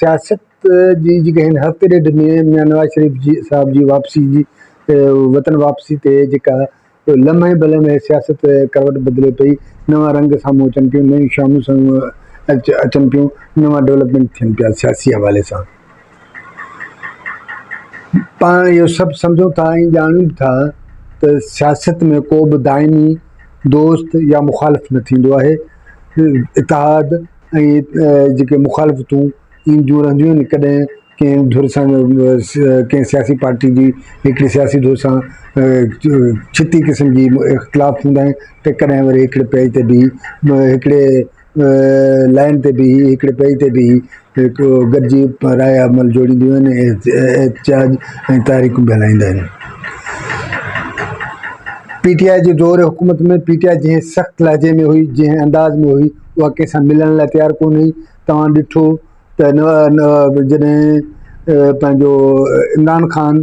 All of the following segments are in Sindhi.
سياست جي جيڪا هن هفتي ڏيڍ ۾ ميان نواز شريف جي صاحب جي واپسي جي وطن واپسي تي جيڪا لمحي به لمحي سياست ڪروٽ بدلي پئي، نوان رنگ سامهون اچن پيون، نيون شامون سامهون اچن پيون، نوان ڊولپمينٽ ٿين پيا سياسي حوالي سان. پاڻ اهو سڀ سمجهون ٿا ۽ ڄاڻون به ٿا ته سياست ۾ ڪو به دائمي دوست يا مخالف نه ٿيندو آهي، اتحاد ۽ جيڪي مخالفتون اينديون رهنديون آهن ڪڏهن ڪنهن ڌر سان ڪنهن سياسي پارٽي جي هڪڙي سياسي ڌر سان ڇتي قسم جي اختلاف هوندا آهن ته ڪڏهن وري هڪڙي پيج تي بيهي هڪڙي لائين تي بيهي هڪڙي پيج تي بيهي هڪ گڏجي رايا عمل جوڙينديون آهن ۽ احتجاج ۽ تحريڪون به هلائيندا آهن. پي ٽي آء جي دور حڪومت ۾ پي ٽي آء جنهن سخت لهجي ۾ هئي، جنهن انداز ۾ هئي، اها ڪنهن سان ملڻ لاء تيار ڪونه هئي. توهان ڏٺو ته جڏهن پنهنجو عمران خان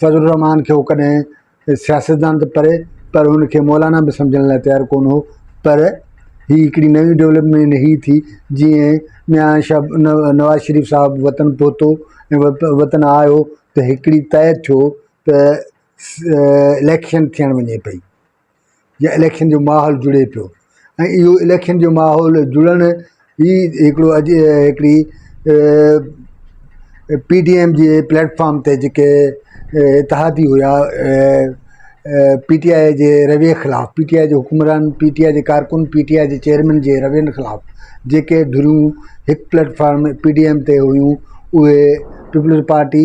فضل الرحمان کي هو ڪڏهن سياستدان ته پري پر هن کي مولانا به سمجهڻ لاء تيار ڪونه هو پر هي هڪڙي نئي ڊولپمينٽ هي ٿي جيئن ميان شا نواز شريف صاحب وطن پهتو ۽ وطن آيو ته هڪڙي طئي ٿيو ته اليڪشن ٿيڻ وڃي پئي جي اليڪشن جو ماحول جڙي پيو ۽ اهو اليڪشن جو ماحول جڙڻ هي هڪڙو اڄ هڪڙي پي ڊي ايم جي پليٽفارم تي جيڪي اتحادي هيا پي ٽي آئي جي رويي خلاف پي ٽي آئي جي حڪمران پي ٽي آئي جي ڪارڪن پي ٽي آئي جي چيئرمين جي روين خلاف جيڪي ڌريون هڪ پليٽفارم پي ڊي ايم تي هيون اهي پيپلز پارٽي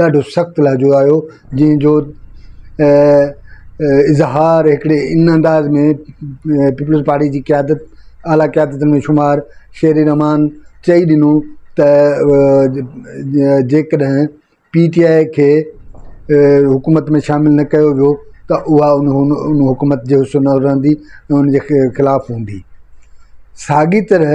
ڏاڍو سخت لهجو آهيو جنهن جو اظهار هڪڙي ان انداز ۾ پيپلز پارٽي جي قيادت اعليٰ قيادت ۾ شمار شير رحمان چئي ڏنو ته جيڪڏهن پي ٽي آء کي حڪومت ۾ شامل نه ڪيو ويو ته اها ان ان حڪومت جي حصو نه رهندي ۽ ان جي خلاف هوندي ساڳي طرح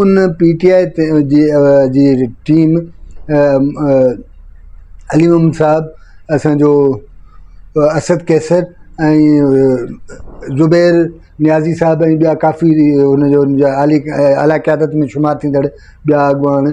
ان پي ٽي آء تي جي جي ٽيم علي محمد صاحب اسانجو اسد قيصر ۽ زبير نيازي صاحب ۽ ٻيا ڪافي ان جو ان جا اعليٰ قيادت ۾ شمار ٿيندڙ ٻيا اڳواڻ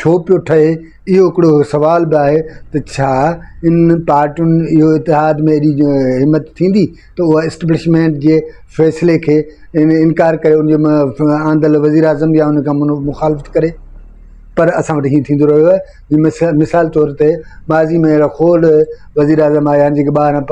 ڇو پيو ٺهي، اهو هڪڙو سوال به آهي ته ڇا ان پارٽين اهو اتحاد ۾ ايڏي همت ٿيندي ته اها اسٽبلشمينٽ جي فيصلي کي انڪار ڪري ان جو آندل وزيراعظم يا ان کان مخالفت ڪري پر اسان وٽ هيئن ٿيندو رهيو آهي مثال طور تي ماضي ۾ اهڙا کوڙ وزيراعظم آيا آهن جيڪي ٻاهران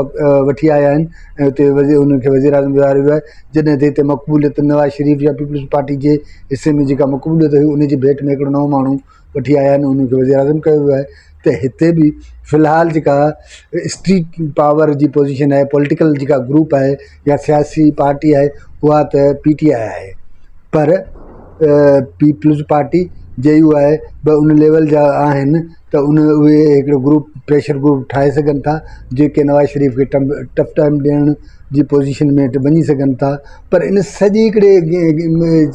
وٺي آيا آهن ۽ اتي ان کي وزيراعظم ويهاريو ويو آهي جڏهن ته هتي مقبوليت نواز شريف يا پيپلز پارٽي جي حصي ۾ جيڪا مقبوليت هئي ان جي ڀيٽ ۾ هڪڙو نئون ماڻهو وٺي آيا آهن ان کي وزيراعظم ڪيو ويو آهي ته هتي به في الحال جيڪا اسٽريٽ پاور جي پوزيشن آهي پوليٽيڪل جيڪا گروپ آهي يا سياسي پارٽي آهي اها ته پي ٽي آء آهي پر Peoples Party J U I به ان ليول جا آهن ته ان اهي هڪڙو گروپ پريشر گروپ ٺاهي سگهن ٿا جيڪي نواز شريف کي ٽف ٽائيم ڏيڻ جي پوزيشن ۾ وڃي سگهن ٿا پر ان سڄي هڪڙي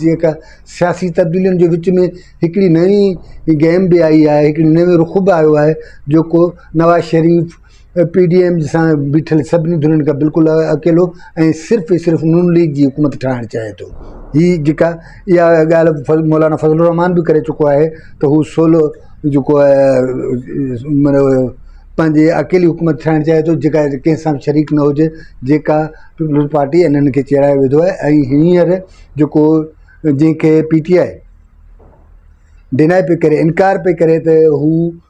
جيڪا سياسي تبديلين جي وچ ۾ هڪڙي نئي گيم به آئي آهي هڪڙي نئون رخ به آيو آهي جيڪو Nawaz Sharif P D M سان بيٺل سڀني ڌرين کان بلڪل اڪيلو ۽ صرف ئي صرف نون ليگ جي حڪومت ٺاهڻ چاهي ٿو هي جيڪا اها ڳالهه مولانا فضل الرحمان به ڪري چڪو آهي ته هو سولو جيڪو آهي پنهنجي اڪيلي حڪومت ٺاهڻ چاهي ٿو جيڪا ڪنهن سان شريڪ نه هجي جيڪا پيپلز پارٽي انهن کي چيڙائي وڌو آهي ۽ هينئر جيڪو جنهن کي پي ٽي آء ڊناء پئي ڪري انڪار پئي ڪري ته هو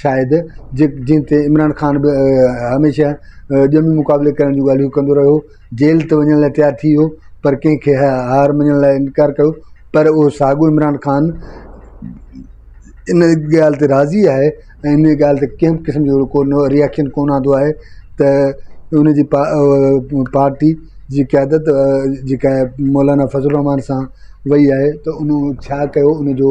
شايد جي جنهن تي عمران خان به هميشه ڄمي مقابلي ڪرڻ جون ڳالهيون ڪندو رهيو هو جيل ته وڃڻ لاء تيار ٿي ويو پر ڪنهن کي هار مڃڻ لاء انڪار ڪيو پر اهو ساڳيو عمران خان ان ڳالهه تي راضي آهي ۽ ان ڳالهه تي ڪنهن قسم جو ڪو نو ريئڪشن ڪو نه آندو آهي ته ان جي پا پارٽي جي قيادت جيڪا مولانا فضل الرحمان سان وئي آهي ته ان ڇا ڪيو ان جو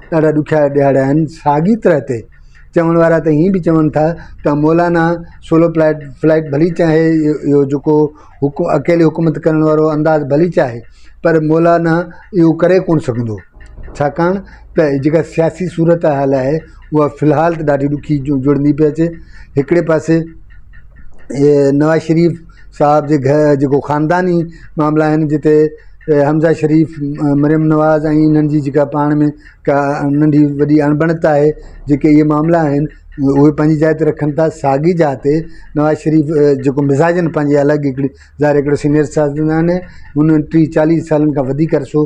ڏاڍا ڏکيا ڏهاڙا آهن. ساڳي طرح تي چوڻ وارا ته ائين به چون ٿا ته مولانا سولو پلائيٽ فلائيٽ ڀلي چاهي اهو جيڪو حڪ اڪيلي حڪومت ڪرڻ وارو انداز ڀلي چاهي پر مولانا اهو ڪري ڪونه سگهندو ڇاڪاڻ ته جيڪا سياسي صورتحال آهي اها في الحال ته ڏاڍي ڏکي جڙندي پئي اچي هڪڙي پاسي نواز شريف صاحب جي گهر جيڪو خانداني معاملا آهن جتي حمزه شريف مريم نواز ۽ انهن جي جيڪا پاڻ ۾ ڪا ننڍي وڏي اڻبڻت آهي جيڪي اهي معاملا آهن اهي پنهنجي جاء تي رکن ٿا ساڳي جاء تي نواز شريف جيڪو مزاجن پنهنجي الڳ هڪڙي ظاهر هڪڙو سينيئر سياستدان آهي هن ٽي چاليهه سالن کان وڌيڪ عرصو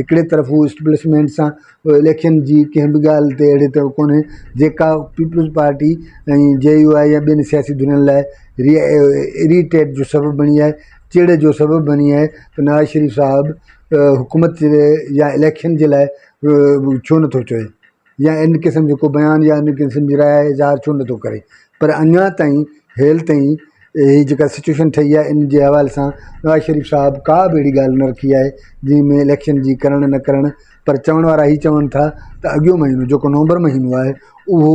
هڪڙي طرف هو اسٽيبلشمينٽ سان اليڪشن جي ڪنهن به ڳالهه تي اهڙي طرح ڪونهي جيڪا Peoples Party ۽ J U I يا ٻين سياسي ڌرين لاء ري ريٽيٽ جو سبب بڻي آهي چڙ جو سبب بڻي آهي ته نواز شريف صاحب حڪومت يا اليڪشن جي لاء ڇو نٿو چوي يا ان قسم جو ڪو بيان يا ان قسم جي راء اظهار ڇو نٿو ڪري پر اڃا تائين هيل تائين هي جيڪا سچويشن ٺهي آهي ان جي حوالي سان نواز شريف صاحب ڪا به اهڙي ڳالهه نه رکي آهي جنهن ۾ اليڪشن جي ڪرڻ نه ڪرڻ پر چوڻ وارا هي چون ٿا ته اڳيو مهينو جيڪو نومبر مهينو آهي اهو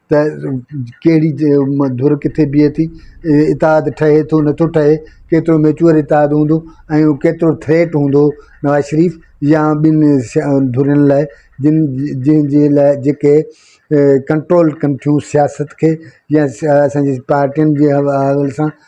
ته ڪهڙي ڌر ڪٿي بيهي ٿي اتحاد ٺهي ٿو نٿو ٺهي ڪيترو ميچوئر اتحاد هوندو ۽ هو ڪيترو ٿريٽ هوندو نواز شريف يا ٻين ڌرين لاء جن جن جي لاء جيڪي ڪنٽرول ڪن ٿيون سياست کي يا اسان جي پارٽين جي حوالي سان